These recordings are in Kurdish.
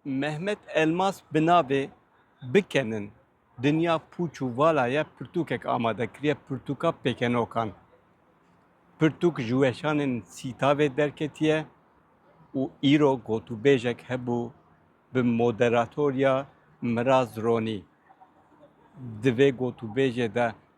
Mehmet Elmas bi navê Bikenin dinya pûç û vala ye pirtûkek amade kiriye pirtûka pêkenokan. Pirtûk ji weşanên Sîtavê derketiye û îro gotûbêjek hebû bi moderatoriya Miraz Ronî. Di vê gotûbêjê de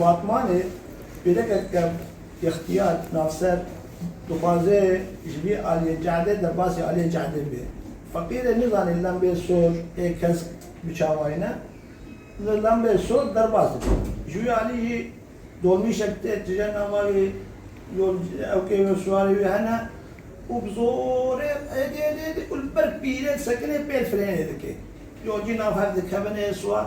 Batmanê pêrekek kev yextiyar navser dixwaze ji vê aliyê cehde de basê aliyê cehde bê. Feqîr e nizanê lembê sor ê kesk biçavayne. Li lembê sor derbas dibe. Ji wê alî jî dolmîşek tê tije nava wê yol ewkê wê siwarê wê hene û bi zorê êdî êdî êdî û li ber pîrê disekinê pêl firênê dike. Yolcî nav hev dikevin ê siwar.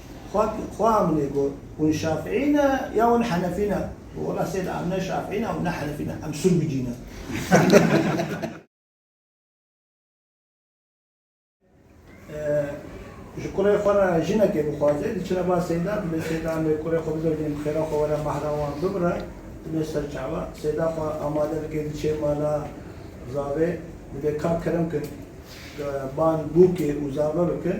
Xwe xwe Amine got, Hûn Şafîî ne ya hûn Henefî ne? Got, Wela Sêd em ne Şafîî ne û ne Henefî ne, em Sûrgucî ne. Ji kurê xwe re jinekê bixwaze, diçine ba Sêda, dibê Sêd Amê kurê xwe bibe bên bixêra xwe were mehra wan bibire. Dibê serçawa Sêda xwe amade bike diçê mala Zavê, dibê ka kirim kin, ban bûkê û zave bikin.